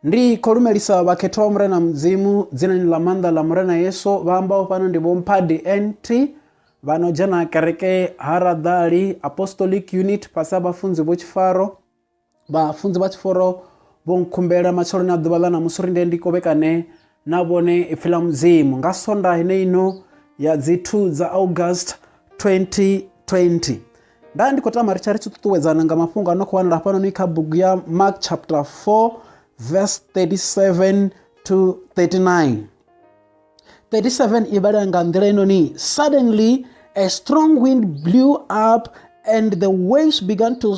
ndi khou lumelisa vhakhethwa vha murena mudzimu dzinani ḽa maanḓa ḽa murena yesu vha ambaho fhano ndi vho mphadi nt vha no dzhena kereke ha raḓali apostolic unit fhasi ha vhafunzi vho tshifaro vhafunzi vha tshiforo vho nkhumbela matsheloni a ḓuvha ḽa ṋamusi uri ndi ndi kovhekane na vhone Ipfi ḽa Mudzimu nga sonda heneino ya dzi 2 dza August 2020. Nda ndi khou tama ri tsha ri tshi ṱuṱuwedzana nga mafhungo a no khou wanala hafhanoni kha bugu ya Mark chapter 4 verse 37 to 39. 37 i vhala nga nḓila inoni suddenly a strong wind blew up and the waves began to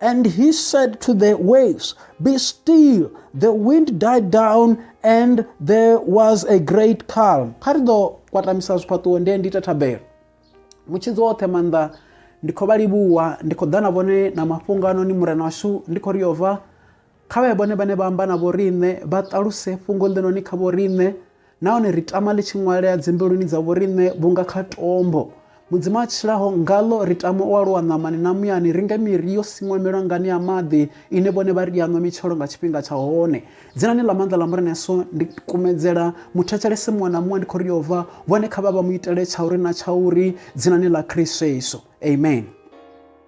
And he said to the waves, Be still. The wind died down and there was a great calm. Kha ri ḓo kwatamisa zwifhaṱuwo nde ndi ita thabelo. Mutshidzi woṱhe maanḓa ndi khou vha livhuwa, ndi khou ḓa na vhone na mafhungo anoni murena washu, ndi khou ri yova Kha vha ye vhone vhane vha amba na vhoriṋe, vha ṱaluse fhungo ḽinoni kha vhoriṋe, nahone ri tama ḽi tshi ṅwalea dzimbiluni dza vhoriṋe vhunga kha tombo. Mudzimu a tshilaho, ngaḽo ri tama u aluwa ṋamani na muyani, ri nge miri yo siṅwa milwangani ya maḓi, ine vhone vha ri i a ṅwa mitshelo nga tshifhinga tsha hone. Dzinani ḽa maanḓa ḽa Murena Yesu, ndi kumedzela muthetshelesi muṅwe na muṅwe ndi khou ri yo bva, vhone kha vha vha mu itele tshauri na tshauri, dzinani ḽa Khristo Yesu. Amen.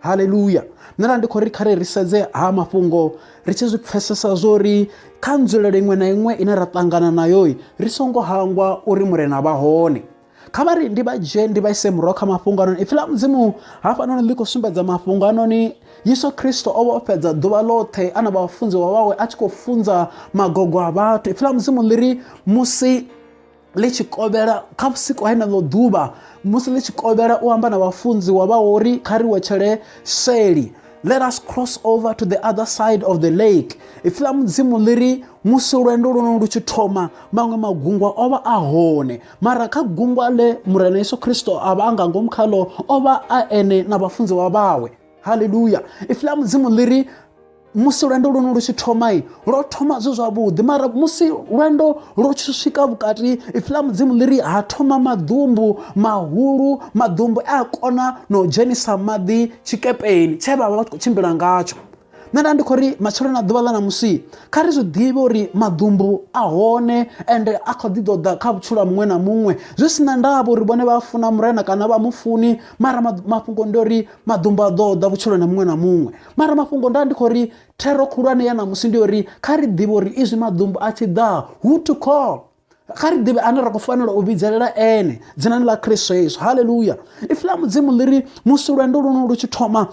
haleluya nṋe na ndi khou ri khare ri sedze ha mafhungo ri tshi zwi pfesesa zwori kha nzulelo iṅwe na iṅwe ine ra ṱangana nayo ri songo hangwa uri murena vha hone kha vha ri ndi vha dzhie ndi vha ise murahu kha mafhungo anoni ipfi ḽa mudzimu hafhanoni ḽi khou sumbedza mafhungo anoni yesu kristo o vha o fhedza ḓuvha ḽoṱhe a na vhafunziwa vhawe a tshi khou funza magogo a vhathu ipfi ḽa mudzimu ḽi ri musi ḽi tshi kovhela kha vhusiku heneḽo ḓuvha musi ḽi tshi kovhela u amba na vhafunziwa vha uri kha ri wetshele seli let us cross over to the other side of the lake ipfi ḽa mudzimu ḽi ri musi lwendo lwono lu tshi thoma maṅwe magungwa o vha a hone mara kha gungwa ḽe murena yesu kristo a vha a nga ngomu khaḽo o vha a ene na vhafunziwa vhawe haleluya ipfi ḽa mudzimu ḽi ri musi lwendo lwone lu tshi thoma lwo thoma zwe zwavhuḓi mara musi lwendo lwo tshi swika vhukati ipfi ḽa mudzimu ḽi ri ha thoma maḓumbu mahulu maḓumbu a a kona na u dzhenisa maḓi tshikepeni tshe vha vha vha tshi khou tshimbila ngatsho nṋe nda ndi khou ri matshelo na ḓuvha ḽa ṋamusi kha ri zwi ḓivhe uri maḓumbu a hone ende a kho ḓi ḓoḓa kha vhutshilo ha muṅwe na muṅwe zwi si na ndavha uri vhone vha funa murena kana vha mufuni mara mafhungo ndi uri maḓumbu a ḓoḓa vhutshilo na muṅwe na muṅwe mara mafhungo nda ndi khou ri thero khulwane ya ṋamusi ndi uri kha ri ḓivhe uri izwi maḓumbu a tshi ḓa who to call kha ri ḓivhe ane ra khou fanela u vhidzelela ene dzinani ḽa kristo yesu halleluya ipfi ḽa mudzimu ḽi ri musi lwendo luno lu tshi thoma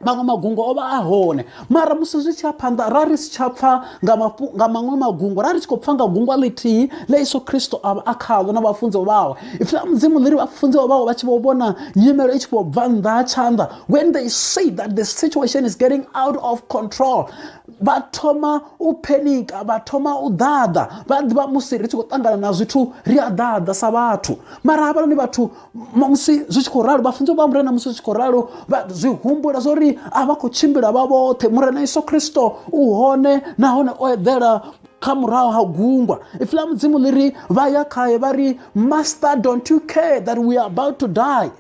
maṅwe magungo o vha a hone mara musi zwi tshi a phanḓa ra ri si tsha pfha nga maṅwe magungo ra ri tshi khou pfha nga gungwa ḽithihi ḽa yesu kristo a vha a khaḽo na vhafunziwa vhawe ipfi ḽa mudzimu ḽi ri vhafunziwa vhawe vha tshi vho vhona nyimelo i tshi vho bva nnḓa ha tshanḓa when they say that the situation is getting out of control vha thoma u phenika vha thoma u ḓaḓa vha ḓivha musi ri tshi khou ṱangana na zwithu ri a ḓaḓa sa vhathu mara havhanoni vhathu musi zwi tshi khou ralo vha funza vha murena musi zwi tshi khou ralo zwi humbula zwa uri a vha khou tshimbila vha vhoṱhe murena yesu kristo u hone nahone o eḓela kha murahu ha gungwa ipfi ḽa mudzimu ḽi ri vha ya khaye vha ri master don't you care that we are about to die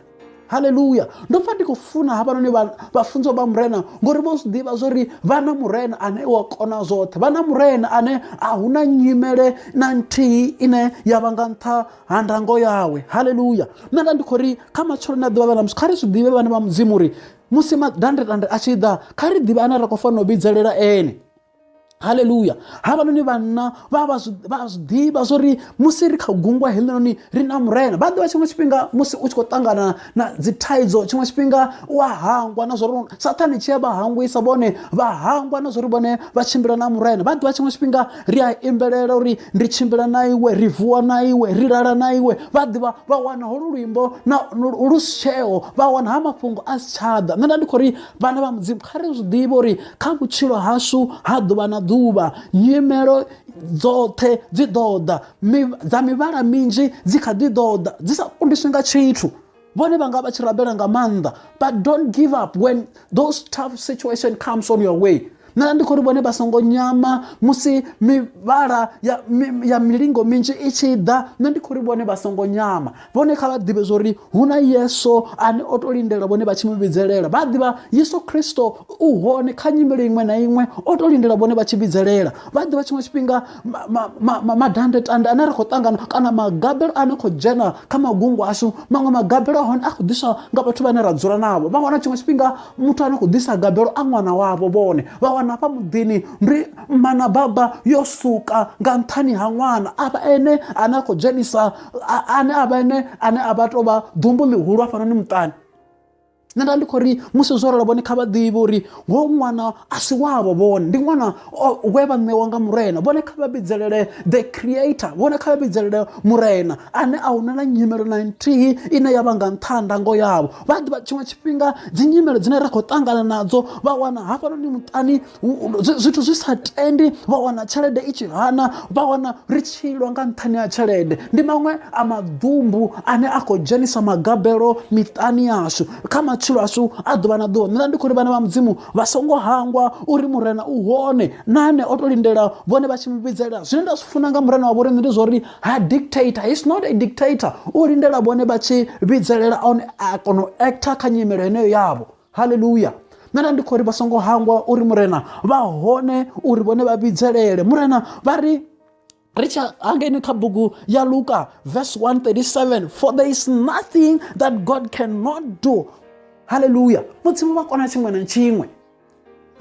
haleluya ndo pfa ndi khou funa havhanoni vhafunziwa vha murena ngori vho zwi ḓivha zwori vha na murena ane wa kona zwoṱhe vha na murena ane a hu na nyimele na nthihi ine ya vha nga nṱha ha ndango yawe haleluya nṋe nda ndi khou ri kha matsheloni a ḓivha vha na musi kha ri zwi ḓivhe vhane vha mudzimu uri musi madandetande a tshi ḓa kha ri ḓivhe ane ra khou fanela u vhidzelela ene haleluya havhanoni vhanna vha vha zwi ḓivha zwo ri musi ri kha gungwa heḽinoni ri na murena vha ḓivha tshiṅwe tshifhinga musi u tshi khou ṱangana na dzi thaidzo tshiṅwe tshifhinga u a hangwa na zwori sathane tshi a vha hangwisa vhone vha hangwa na zwori vhone vha tshimbila na murena vha ḓivha tshiṅwe tshifhinga ri a imbelela uri ri tshimbila na iwe ri vuwa na iwe ri lala na iwe vha ḓivha vha wana holu luimbo na lu si tsheo vha wana ha mafhungo a si tshaḓa nṋe nda ndi khou ri vhana vha mudzimu kha ri zwi ḓivhe uri kha vhutshilo hashu ha ḓuvha na ḓuvha nyimelo dzoṱhe dzi ḓo ḓa dza mivhala minzhi dzi kha ḓi ḓo ḓa dzi sa kundiswi nga tshithu vhone vha nga vha tshi rabela nga maanḓa but don't give up when those tough situation comes on your way na ndi khou ri vhone vha songo nyama musi mivhala ya, ya milingo minzhi i tshi ḓa nṋe ndi khou ri vhone vha songo nyama vhone kha vha ḓivhe zwori hu na yesu ane o to lindela vhone vha tshi mu vhidzelela vha ḓivha yesu kristo u hone kha nyimele iṅwe na iṅwe o to lindela vhone vha tshi vhidzelela vha ḓivha tshiṅwe tshifhinga madandetande ane ri khou ṱangana kana magabelo ane khou dzhena kha magungu ashu maṅwe magabelo ahone a khou ḓiswa nga vhathu vhane ra dzula navho vha wana tshiṅwe tshifhinga muthu ane khou ḓisa gabelo a ṅwana wavho vhone vha wana hafha muḓini ndi mana baba yo suka nga nṱhani ha ṅwana avha ene ane a khou dzhenisa ane a vha ene ane a vha tou vha ḓumbu ḽihulu hafhanoni muṱani nṋe nda ndi khou ri musi zwo rolo vhone kha vha ḓivhe uri ho ṅwana a si wavho vhone ndi ṅwana we vha ṋewa nga murena vhone kha vha vhidzelele the creator vhone kha vha vhidzelele murena ane a huna na nyimelo na nthihi ine ya vha nga nṱha ha ndango yavho vha ḓivha tshiṅwe tshifhinga dzi nyimelo dzine ra khou ṱangana nadzo vha wana hafhanoni muṱani zwithu zwi sa tendi vha wana tshelede i tshi hana vha wana ri tshilwa nga nṱhani ha tshelede ndi maṅwe a maḓumbu ane a khou dzhenisa magabelo miṱani yashu kha matshilo ashu a ḓuvha na ḓuvha nṋe ndi khou ri vhana vha mudzimu vha songo hangwa uri murena u hone na ane o to lindela vhone vha tshi mu vhidzelela zwine nda zwi funa nga murena wa vhoriṋe ndi zwa uri ha dictator he's not a dictator u lindela vhone vha tshi vhidzelela one a kona u actor kha nyimelo heneyo yavho haleluya nṋe na ndi khou ri vha songo hangwa uri murena vha hone uri vhone vha vhidzelele murena vha ri ri tsha hangeni kha bugu ya luka verse 137 for there is nothing that god cannot do haleluya mudzimu vha kona tshiṅwe na tshiṅwe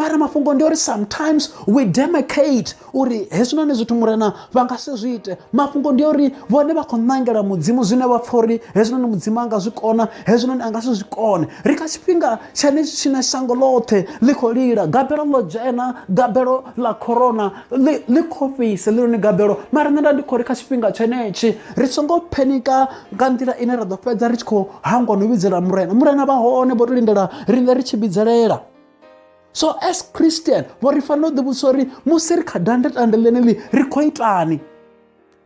mara mafhungo ndi uri sometimes we demicate uri hezwinoni zwithu murena vha nga si zwi ite mafhungo ndi uri vhone vha khou ṋangela mudzimu zwine vha pfha uri hezwinoni mudzimu a nga zwi kona hezwinoni a nga si zwi kone ri kha tshifhinga tshane tshine shango ḽoṱhe ḽi khou lila gabelo ḽo dzhena gabelo ḽa corona ḽi khou fhisa ḽiloni gabelo mara nṋe nda ndi khou ri kha tshifhinga tshenetshi ri songo phenika nga nḓila ine ra ḓo fhedza ri tshi khou hangwa no vhidzela murena murena vha hone vho to lindela riṋe ri tshi vhidzelela so as christian vho ri fanela u ḓivhudzisa uri musi ri kha dande tande ḽeneḽi ri khou itani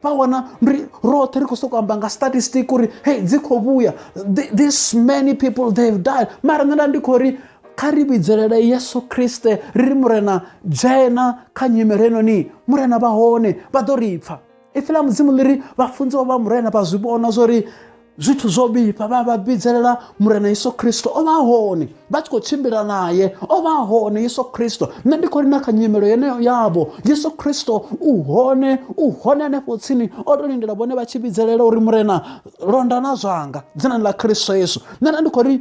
vha wana ri roṱhe ri khou sokou amba nga statistic uri hei dzi khou vhuya this many people they have died mara nṋe nda ndi khou ri kha ri vhidzelele yesu kriste ri ri murena dzhena kha nyimele heinoni murena vha hone vha ḓo ri pfha ipfi ḽa mudzimu ḽi ri vhafunziwa vha murena vha zwi vhona zwo ri zwithu zwo vhifha vha vha vhidzelela murena yesu kristo o vha hone vha tshi khou tshimbila naye o vha hone yesu kristo nṋe ndi khou ri na kha nyimelo yeneyo yavho yesu kristo u hone u hone hanefho tsini o to lindela vhone vha tshi vhidzelela uri murena londa na zwanga dzinani ḽa kristo yesu nṋe nda ndi khou ri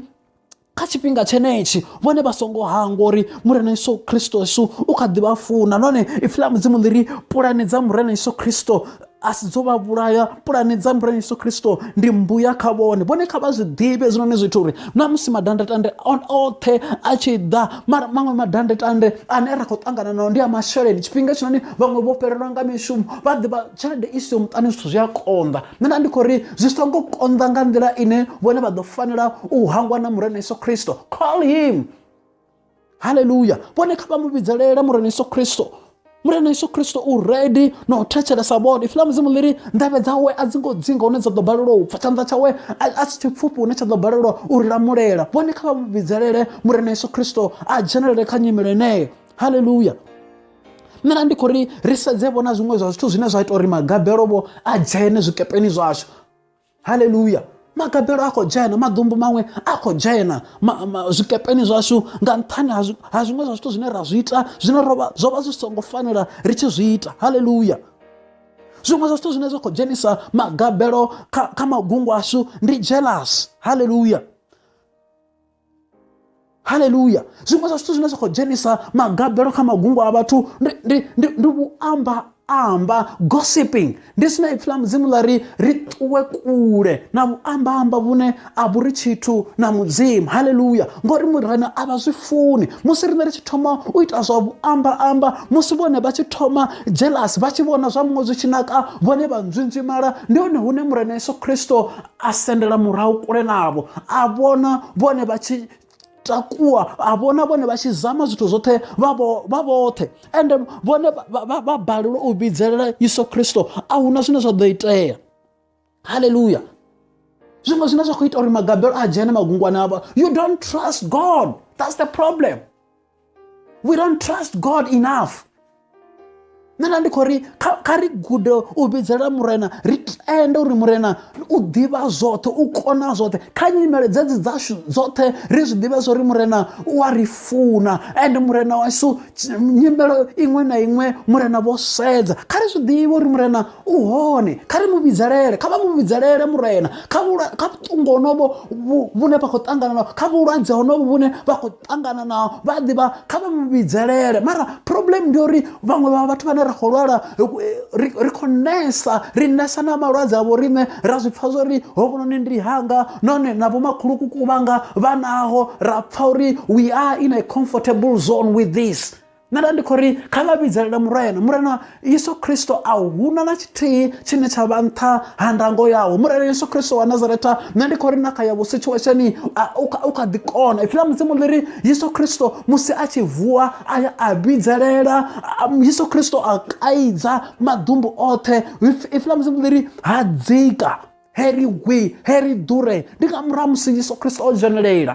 kha tshifhinga tshenetshi vhone vha songo hangwa uri murena yesu kristo yesu u kha ḓi vha funa nahone ipfi ḽa mudzimu ḽi ri pulani dza murena yesu kristo a si dzo vha vhulaya pulani dza murena yesu kristo ndi mbuya kha vhone vhone kha vha zwi ḓivhe hezwinoni zwithu uri na musi madandetande oṱhe a tshi ḓa mara maṅwe madandetande ane ra khou ṱangana nao ndi a masheleni tshifhinga tshinoni vhaṅwe vho fhelelwa nga mishumo vha ḓivha tshelede i siho muṱani zwithu zwi a konḓa nṋe nda ndi khou ri zwi songo konḓa nga nḓila ine vhone vha ḓo fanela u hangwa na murena yesu khristo call him halleluya vhone kha vha mu vhidzelele murena yesu khristo murena yesu khristo u redi na u thetshelesa vhone ifi ḽa mudzimu ḽi ri ndavhe dzawe a dzi ngo dzinga hune dza ḓo balelwa u pfa tshanḓa tshawe a si tshipfufhi hune tsha ḓo balelwa u ri lamulela vhone kha vha mu vhidzelele murena yesu khristo a dzhenelele kha nyimele eneyo halleluya nṋe na ndi khou ri ri sedze vhona zwiṅwe zwa zwithu zwine zwa ita uri magabelo vho a dzhene zwikepeni zwashu haleluya magabelo a khou dzhena maḓumbu maṅwe a khou dzhena zwikepeni zwashu nga nṱhani ha zwiṅwe zwa zwithu zwine ra zwi ita zwine rovha zwo vha zwi songo fanela ri tshi zwi ita haleluya zwiṅwe zwa zwithu zwine zwa khou dzhenisa magabelo kha magungu ashu ndi jealous haleluya haleluya zwiṅwe zwa zwithu zwine zwa khou dzhenisa magabelo kha magungu a vhathu ndi vhuamba amba gossiping ndi zwine ipfi ḽa mudzimu ḽa ri ri ṱuwe kule na vhuamba amba vhune a vhu ri tshithu na mudzimu haleluya ngori murena a vha zwi funi musi riṋe ri tshi thoma u ita zwa vhuamba amba musi vhone vha tshi thoma jealous vha tshi vhona zwa muṅwe zwi tshi naka vhone vha nzwinzwimala ndi hone hune murena yesu kristo a sendela murahu kule navho a vhona vhone vha tshi takuwa a vhona vhone vha tshi zama zwithu zwoṱhe vha vhoṱhe ende vhone vha balelwa u vhidzelela yesu kristo a hu na zwine zwa ḓo itea halleluya zwiṅwe zwine zwa khou ita uri magabelo a dzhene magungwana avha you don't trust god that's the problem we don't trust god enough nṋe nda ndi khou ri kha ri gude u vhidzela murena ri tende uri murena u ḓivha zwoṱhe u kona zwoṱhe kha nyimele dzedzi dzashu dzoṱhe ri zwi ḓivhe zwo ri murena u a ri funa ende murena washu nyimelo iṅwe na iṅwe murena vho sedza kha ri zwi ḓivhe uri murena u hone kha ri mu vhidzelele kha vha mu vhidzelele murena kha vhuṱungu honovho vhune vha khou ṱangana nao kha vhulwadze honovho vhune vha khou ṱangana na vha a ḓivha kha vha mu vhidzelele mara problem ndi uri vhaṅwe vha vhathu vhane ra khou lwala ri khou nesa ri nesa na malwadze a vhoriṋe ra zwi pfha zwa uri hovhunoni ndi hanga nahone na vhomakhulukuku vhanga vha naho ra pfha uri we are in a comfortable zone with this nṋe nda ndi khou ri kha vha vhidzelela murena murena yesu kristo a huna na tshithihi tshine tsha vha nṱha ha ndango yawo murena yesu kristo wa nazaretha nṋe ndi khou ri na kha yavho situationi u kha ḓi kona ipfi ḽa mudzimu ḽi ri yesu kristo musi a tshi vuwa a ya a vhidzelela yesu kristo a kaidza maḓumbu oṱhe ipfi ḽa mudzimu ḽi ri ha dzika heri gwi heri ḓure ndi nga murahu musi yesu kristo o dzhenelela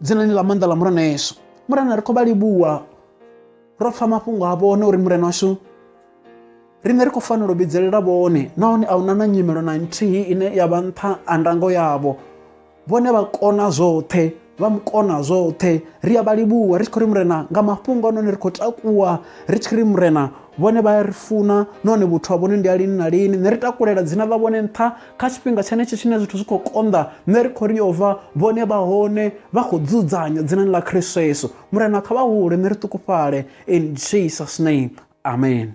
dzinani ḽa maanḓa ḽa murena yesu murena ri khou vha livhuwa ro pfa mafhungo a vhone uri murena washu riṋe ri khou fanela u vhidzelela vhone nahone a huna na nyimelo na nthihi ine ya vha nṱha a ndango yavho vhone vha kona zwoṱhe vha mu kona zwoṱhe ri a vha livhuwa ri tshi khou ri murena nga mafhungo a noni ri khou takuwa ri tshi ri murena vhone vha ya ri funa nahone vhuthu ha vhone ndi a lini na lini nṋe ri takulela dzina ḽa vhone nṱha kha tshifhinga tshenetsho tshine zwithu zwi khou konḓa nṋe ri khou ri yo vha vhone vha hone vha khou dzudzanya dzinani ḽa khristo yesu murena kha vha hule nṋe ri ṱukufhale in jesus name amen